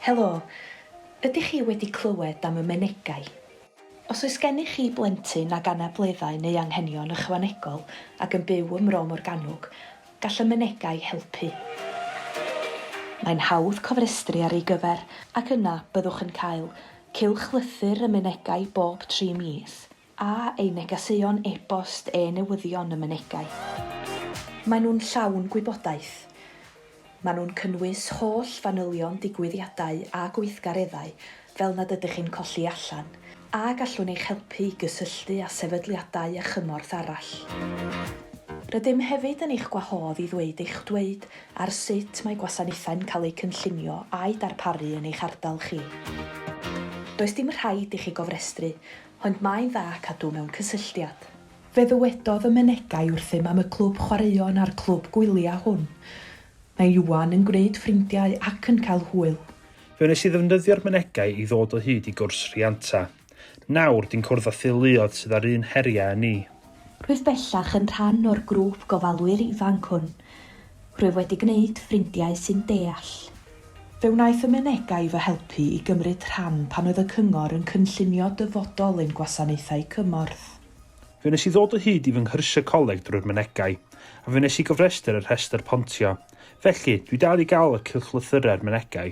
Helo, ydych chi wedi clywed am y Menegau? Os oes gennych chi blentyn ag anableddau neu anghenion ychwanegol ac yn byw ym Mro Morgannwg, gall y Menegau helpu. Mae'n hawdd cofrestru ar ei gyfer ac yna byddwch yn cael cylchlythyr y Menegau bob tri mis. a eu negeseuon e-bost eu newyddion y mynegai. Maen nhw'n llawn gwybodaeth. Maen nhw'n cynnwys holl fanylion digwyddiadau a gweithgareddau fel nad ydych chi'n colli allan, a gallwn eich helpu i gysylltu â sefydliadau a chymorth arall. Rydym hefyd yn eich gwahodd i ddweud eich dweud ar sut mae gwasanaethau'n cael eu cynllunio a'u darparu yn eich ardal chi. Does dim rhaid i chi gofrestru, Ond mae'n dda cadw mewn cysylltiad. Fe ddywedodd y menegai wrthym am y clwb chwaraeon a'r clwb gwyliau hwn. Mae Iwan yn gwneud ffrindiau ac yn cael hwyl. Fe wnes i ddefnyddio'r menegai i ddod o hyd i gwrs rhianta. Nawr, di'n cwrdd â theuluoedd sydd â'r un heriau â ni. Rwyf bellach yn rhan o'r grŵp gofalwyr ifanc hwn. Rwyf wedi gwneud ffrindiau sy'n deall. Fe wnaeth y Menegau fy helpu i gymryd rhan pan oedd y Cyngor yn cynllunio dyfodol ein gwasanaethau cymorth. Fe wnes i ddod o hyd i fy nghyrsiau coleg drwy'r Menegau, a fe wnes i gofrestr y rhestr pontio. Felly, dwi dal i gael y cylchlythyrau'r Menegau.